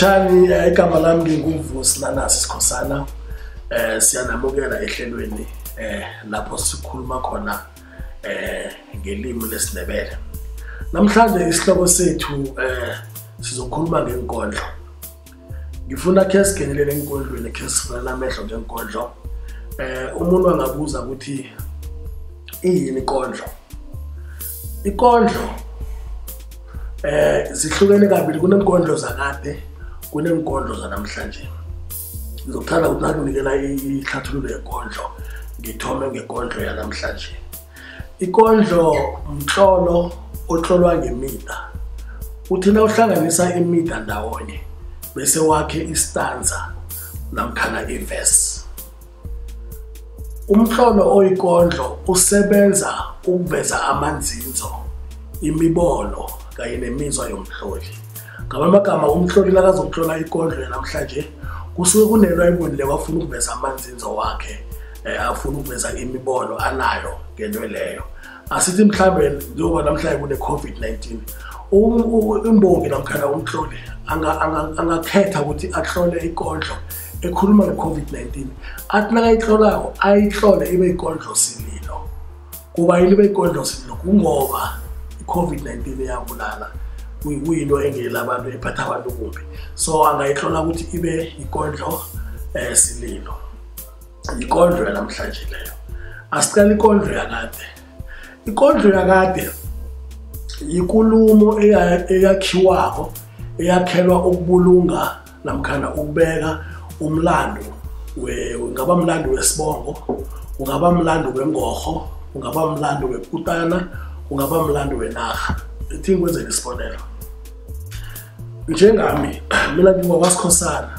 lotshani eh, igama lami nginguvusi nanasi sikhosana um siyanamukela ehlelweni um lapho sikhuluma khona eh ngelimi lesindebele namhlanje isihloko sethu eh sizokhuluma ngenkondlo ngifuna khe singenelele enkondlweni khe sifunela amehlo ngenkondlo eh umuntu angabuza ukuthi iyini ikondlo ikondlo eh zihlukene kabili kunenkondlo zakade kunenkondlo zanamhlanje ngizokuthanda ukuthi nakunikela ihlathululo yekondlo ngithome ngekondlo yanamhlanje ikondlo mtlolo otlolwa ngemida uthi na uhlanganisa imida ndawonye bese wakhe istanza namkhana ivesi Umtlolo oyikondlo usebenza ukuveza amanzinzo, imibono kanye nemizwa yomtloli. Ngamamagama umtloli nakazokutlola ikondlo yanamhlanje kusuke kunento ayibonile wafuna ukuveza amanzinzo wakhe eh, afuna ukuveza imibono anayo ngento leyo asithi mhlawumbe njengoba namhlanje kune-covid-19 um, imbongi namkhana umhloli angakhetha ukuthi ahlole ikondlo ekhuluma nge-covid-19 athi nakayihlolako ayihlole ibe ikondlo sililo kuba yini ibe ikondlo sililo kungoba i-covid-19 iyabulala kuyinto engela abantu ephatha abantu kumbi so angayihlola ukuthi ibe ikondlo um sililo yikondlo yanamhlanje leyo asiqala ikondlo yakade ikondlo yakade yikulumo eyakhiwako eyakhelwa ukubulunga namkhana ukubeka umlando ungaba mlando wesibongo ungaba mlando wengorho ungaba mlando wekutana ungaba mlando wenarha ithi ngikwenzela isibonelo njengami mina ngingwakwasikhosana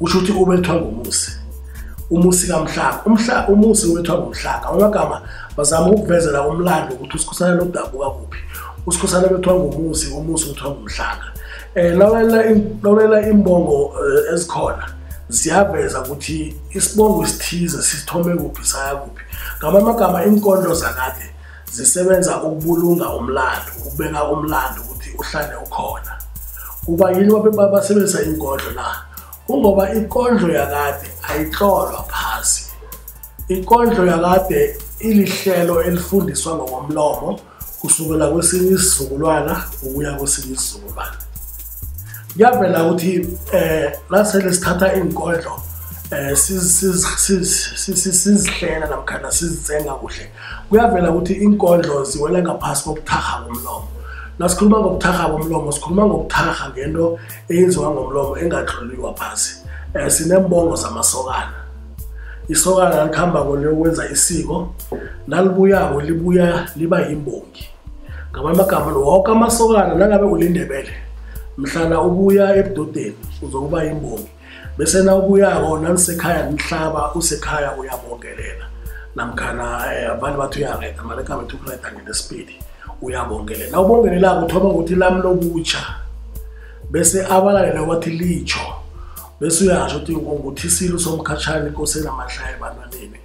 usho ukuthi ubethwa ngomusi umusi kamhlaka umhla umusi ubethwa ngomhlaka amagama bazama ukukuvezela umlando ukuthi usikhosana lodabuka kuphi usikhosana bethwa ngomusi umusi ubethwa ngomhlaka eh lawelela lawelela imbongo eh, ezikhona siyaveza ukuthi isibongo isithize sisithome kuphi saya kuphi ngamanye amagama iinkondlo zakade zisebenza ukubulunga umlando ukubeka umlando ukuthi uhlale ukhona kuba yini basebenzisa inkondlo na kungoba inkondlo yakade ayihlolwa phasi inkondlo yakade ilihlelo elifundiswa ngokomlomo kusukela kwesinye isizukulwana ukuya kwesinye isizukulwana kuyavela ukuthi eh nasele sithatha iinkondlo eh sizihlela namkhana sizitsenga kuhle kuyavela ukuthi inkondlo ziwela ngaphasi kokuthakha komlomo nasikhuluma ngokuthakha komlomo sikhuluma ngokuthakha ngento eyenziwa ngomlomo engatloliwa phasi um eh, sinembongo zamasokana isokana likuhamba koliyokwenza isiko nalibuyako libuya liba yimbongi ngamanye amagama woke amasokana nangabe ulindebele mhlana ubuya ebudodeni uzokuba yimbongi bese nawubuyako nanisekhaya nihlaba usekhaya uyabongelela namkhana eh, abanye bathi uyareda mara ekhamba ethi ukureda ngenesipidi uyabongelela nawubongelelako uthoma ngokuthi lami lokutsha bese abalalele wathi litsho bese uyasho ukuthi nguthisile usomkhatshani inkosi enamahlaya ebantwaneni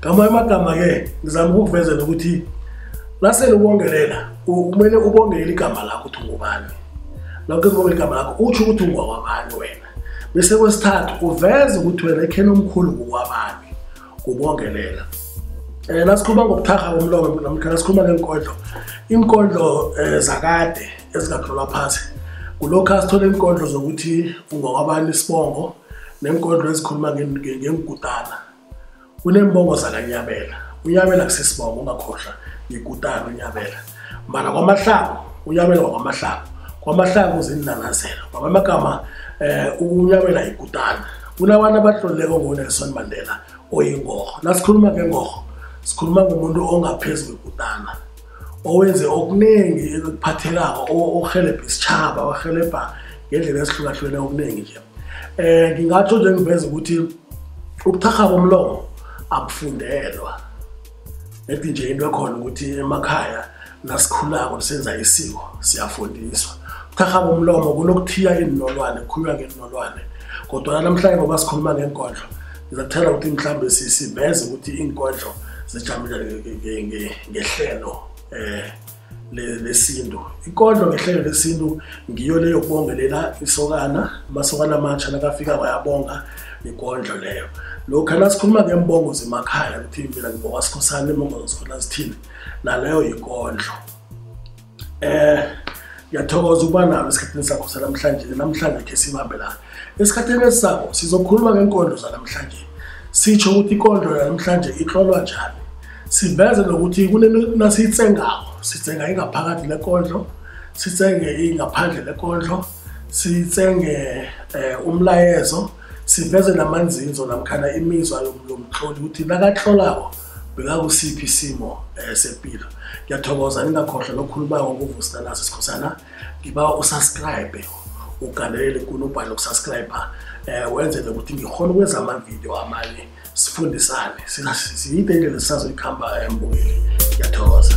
ngamanye amagama-ke ngizama ukukuvezela ukuthi nasele ubongelela kumele ubongelele igama lakho ukuthi ungubani nakho ubongela igama lakho utsho ukuthi ungwakwabani wena bese kwesithathu uveze ukuthi wena ekheni omkhulu ngokwabani kubongelela um eh, nasikhuluma ngobuthakha komlomo namkha nasikhuluma ngeenkondlo iinkondlo um zakade ezingatlolwa phasi kulokhu asithole iinkondlo zokuthi ungokwabani isibongo neenkodlo ezikhuluma ngengikutana kuneembongo zakanyabela unyabela kusisibongo ungakhohlwa ngikutana unyabela mbala kwamahlango unyabela wakwamahlango kwamahlango uzinanazelo kwamamagama um unyabela yikutana kunabantu abahloluleko ngonelson mandela oyingoho nasikhuluma ngengorho sikhuluma ngomuntu ongaphezu kwekutana owenze okuningi ekuphathelako orhelebha isitshaba orhelebha ngendlela ezihlukahlukene okuningi nje um ngingatsho nje ngiveza ukuthi ubuthakha bomlomo abufundelwa ethi nje into ekhona ukuthi emakhaya nasikhulako senza isiko siyafundiswa ubuthakha bomlomo kunokuthiya iinolwane kukhulunywa ngeenolwane kodwana namhlanje ngoba sikhuluma ngeenkondlo ngizakuthela ukuthi mhlawumbe siveze ukuthi iinkodlo zijamile ngehlelo um lesintu ikodlo ngehlelo lesintu ngiyo leyo kubongelela isokana amasokana amatsha nakafika wayabonga ikondlo leyo lokhu nasikhuluma ngembongo zemakhaya ukuthi mina ngibonga sikhosana imbongo zesikhona zithini naleyo yikondlo eh ngiyathokoza ukuba nalo esikhathini sakho sanamhlanje namhlanje khe sibambe la esikhathini esisako sizokhuluma ngenkondlo zanamhlanje sitsho ukuthi ikondlo yanamhlanje itlolwa njani siveze nokuthi kunenasiyitsengako sitsenga ingaphakathi lekondlo sitsenge ingaphandle lekondlo sitsenge eh, umlayezo siveze namanzinzo namkhana imizwa yomtloli ukuthi nakatlolako bekakusiphi isimo um sempilo ngiyathokoza ningakhohlwa lokhuluma ngokuvusa naso sikhosana ngiba usubscribe ugandelele kunobhani lokusubscribe um eh, wenzele ukuthi ngikhona ukwenza amavidiyo amanye sifundisane siyide indlela sisazoyikhamba embukeli eh, ngiyathokoza